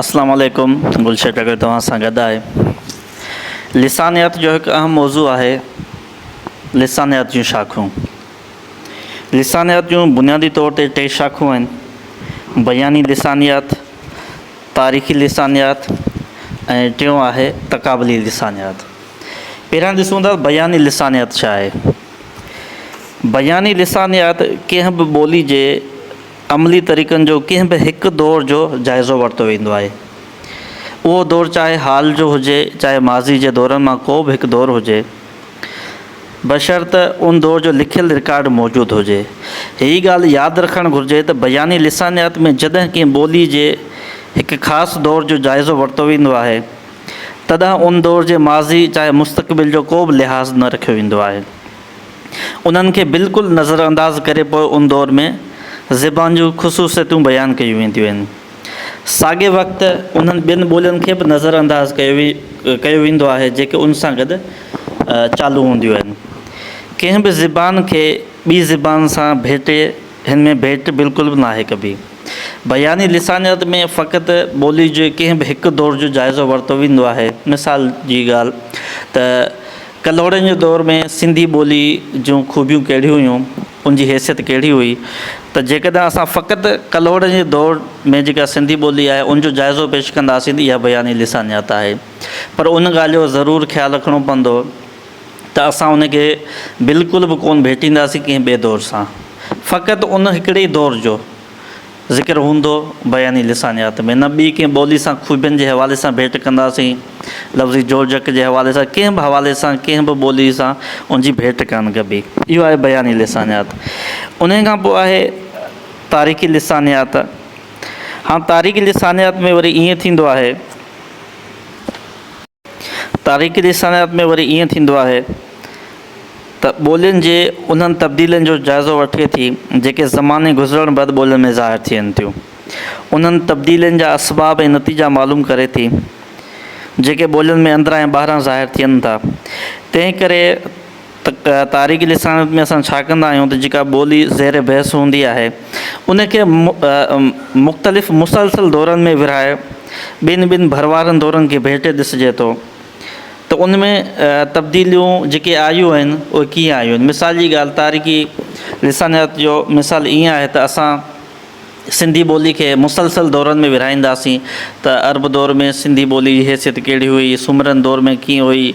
اسلام عليڪم گلشير ٽڪري توهان سان گڏ آهي لسانيات جو هڪ اهم موضوع آهي لسانيات جون شاخون لسانيات جون بنيادي طور تي ٽي شاخون آهن بياني لسانيات تاريخي لسانيات ۽ ٽيون آهي تقابلي لسانيات پهريان ڏسون ٿا بياني لسانيات ڇا آهي بياني لسانيات ڪنهن به ٻولي جي عملي طريقن جو ڪنهن به هڪ دور جو جائزو ورتو ويندو آهي. اهو دور چاهي حال جو هجي چاهي ماضي جي دورن مان ڪو به هڪ دور هجي، بشرط ان دور جو لکيل رڪارڊ موجود هجي. هيء ڳالهه ياد رکڻ گهرجي ته بياني لسانيات ۾ جڏهن ڪنهن ٻولي جي هڪ خاص دور جو جائزو ورتو ويندو آهي، تڏهن ان دور جي ماضي چاهي مستقبل جو ڪو به لحاظ نه رکيو ويندو آهي. انهن کي بلڪل نظر انداز ڪري پوء ان دور ۾ زبان جون خصوصيتون بيان ڪيون وينديون آهن. ساڳئي وقت انهن ٻين ٻولين کي به نظر انداز ڪيو ويندو آهي جيڪي ان سان گڏ چالو هونديون آهن. ڪنهن به زبان کي ٻي زبان سان ڀيٽي هن ۾ ڀيٽ بلڪل به ناهي ڪبي. بياني لسانيات ۾ فقط ٻولي جي ڪنهن به هڪ دور جو جائزو ورتو ويندو آهي. مثال جي ڳالهه ته. ڪلهوڙن جي دور ۾ سنڌي ٻولي جون خوبيون ڪهڙيون هيون، ان جي حيثيت ڪهڙي هئي ته جيڪڏهن اسان فقط ڪلهوڙن جي دور ۾ جيڪا سنڌي ٻولي آهي ان جو جائزو پيش ڪنداسين ته اها بياني لسانيات آهي پر ان ڳالهه جو ضرور خيال رکڻو پوندو ته اسان ان کي بلڪل به ڪونه ڀيٽينداسين ڪنهن ٻئي دور سان فقط ان هڪڙي دور جو ذڪر هوندو، بياني لسانيات ۾ نه ٻي ڪنهن ٻولي سان خوبين جي حوالي سان ڀيٽ ڪنداسين، لفظي جوڙجڪ جي حوالي سان ڪنهن به حوالي سان ڪنهن به ٻولي سان ان جي ڀيٽ ڪانه ڪبي. اهو آهي بياني لسانيات. انهيء کان پوء آهي تاريخي لسانيات. هاڻ تاريخي لسانيات ۾ وري ائين ٿيندو آهي. تاريخي لسانيات ۾ وري ائين ٿيندو آهي ته ٻولين جي انهن تبديلين جو جائزو وٺي ٿي جيڪي زماني گذرڻ بعد ٻولين ۾ ظاهر ٿين ٿيون. انهن تبديلين جا اسباب ۽ نتيجا معلوم ڪري ٿي جيڪي ٻولين ۾ اندران ۽ ٻاهران ظاهر ٿين ٿا. تنهن ڪري ته تاريخي لسانيات ۾ اسان ڇا ڪندا آهيون ته جيڪا ٻولي زير بحث هوندي آهي ان کي مختلف مسلسل دورن ۾ ورهائي ٻن ٻن ڀر وارن دورن کي ڀيٽي ڏسجي ٿو ته ان ۾ تبديليون جيڪي آيون آهن اهي ڪيئن آيون آهن مثال جي ڳالهه تاريخي لسانيات جو مثال ائين آهي ته اسان سنڌي ٻولي کي مسلسل دورن ۾ ورهائينداسين ته عرب دور ۾ سنڌي ٻولي جي حيثيت ڪهڙي هئي، سومرن دور ۾ ڪيئن هئي،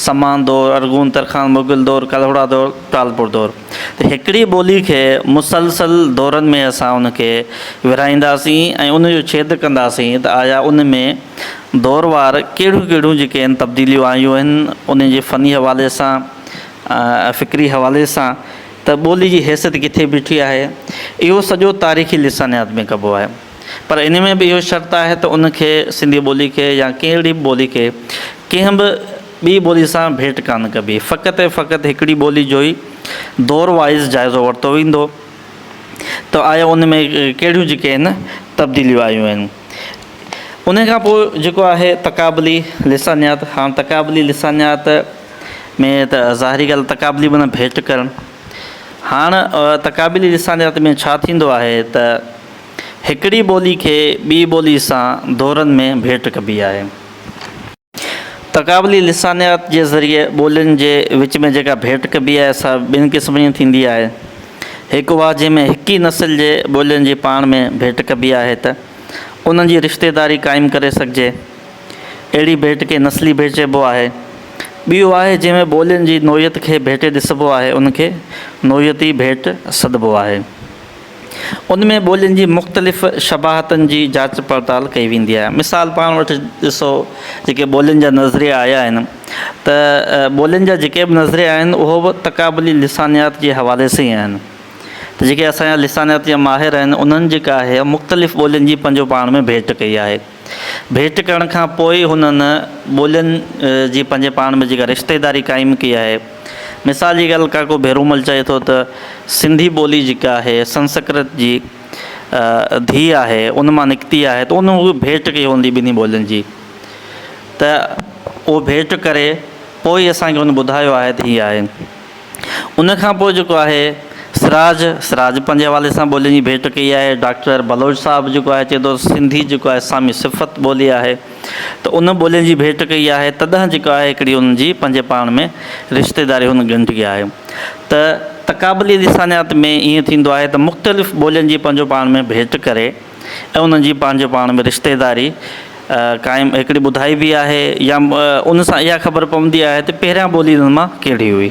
سمان دور، ارغون، ترخان، مغل دور، ڪلهوڙا دور، ٽالپور دور. ته هڪڙي ٻولي کي مسلسل دورن ۾ اسان ان کي ورهائينداسين ۽ ان جو ڇيد ڪنداسين ته آيا ان ۾ دوروار ڪهڙيون ڪهڙيون جيڪي آهن تبديليون آيون آهن، انهن جي فني حوالي سان، فڪري حوالي سان. ته ٻولي جي حيثيت ڪٿي بيٺي آهي، اهو سڄو تاريخي لسانيات ۾ ڪبو آهي. پر ان ۾ به اهو شرط آهي ته ان کي، سنڌي ٻولي کي يا ڪهڙي به ٻولي کي، ڪنهن به ٻي ٻولي سان ڀيٽ ڪانه ڪبي، فقط ۽ فقط هڪڙي ٻولي جو ئي دور وائيز جائزو ورتو ويندو ته آيا ان ۾ ڪهڙيون جيڪي آهن تبديليون آيون آهن. ان کان پوء جيڪو آهي تقابلي لسانيات، هاڻ تقابلي لسانيات، ۾ ته ظاهري ڳالهه تقابلي به نه ڀيٽ ڪرڻ. هاڻ تقابلي لسانيات ۾ ڇا ٿيندو آهي ته هڪڙي ٻولي کي ٻي ٻولي سان دورن ۾ ڀيٽ ڪبي آهي. تقابلي لسانيات جي ذريعي ٻولين جي وچ ۾ جيڪا ڀيٽ ڪبي آهي سا ٻن قسمن جي ٿيندي آهي. هڪ اها جنهن ۾ هڪ ئي نسل جي ٻولين جي پاڻ ۾ ڀيٽ ڪبي آهي ته انهن جي رشتيداري قائم ڪري سگهجي. اهڙي ڀيٽ کي نسلي ڀيٽ چئبو آهي. ٻي اها آهي جنهن ۾ ٻولين جي نوعيت کي ڀيٽي ڏسبو آهي ان کي نوعيتي ڀيٽ سڏبو آهي. ان ۾ ٻولين جي مختلف شباهتن جي جاچ پڙتال ڪئي ويندي آهي. مثال پاڻ وٽ ڏسو جيڪي ٻولين جا نظريا آيا آهن ته ٻولين جا جيڪي به نظريا آهن اهو به تقابلي لسانيات جي حوالي سان ئي آهن ته جيڪي اسان جا لسانيات جا ماهر آهن انهن جيڪا آهي مختلف ٻولين جي پنهنجو پاڻ ۾ ڀيٽ ڪئي آهي. ڀيٽ ڪرڻ کان پوء ئي هنن ٻولين جي پنهنجي پاڻ ۾ جيڪا رشتيداري قائم ڪئي آهي. مثال جي ڳالهه ڪاڪو ڀيرومل چئي ٿو ته سنڌي ٻولي جيڪا آهي سنسڪرت جي ڌيء آهي ان مان نڪتي آهي ته ان هوء ڀيٽ ڪئي هوندي ٻنهي ٻولين جي ته اهو ڀيٽ ڪري پوء ئي اسان کي هن ٻڌايو آهي ته هي آهي. ان کان پوء جيڪو آهي سراج، سراج پنهنجي حوالي سان ٻولين جي ڀيٽ ڪئي آهي. ڊاڪٽر بلوچ صاحب جيڪو آهي چئي ٿو سنڌي جيڪو آهي سامي صفت ٻولي آهي ته ان ٻولين جي ڀيٽ ڪئي آهي تڏهن جيڪو آهي هڪڙي ان جي پنهنجي پاڻ ۾ رشتيداري هن ڳنڍي آهي ته تقابلي لسانيات ۾ ائين ٿيندو آهي ته مختلف ٻولين جي پنهنجو پاڻ ۾ ڀيٽ ڪري ۽ انهن جي پنهنجو پاڻ ۾ رشتيداري قائم هڪڙي ٻڌائي به آهي يا ان سان اها خبر پوندي آهي ته پهريان ٻولي انهن مان ڪهڙي هئي.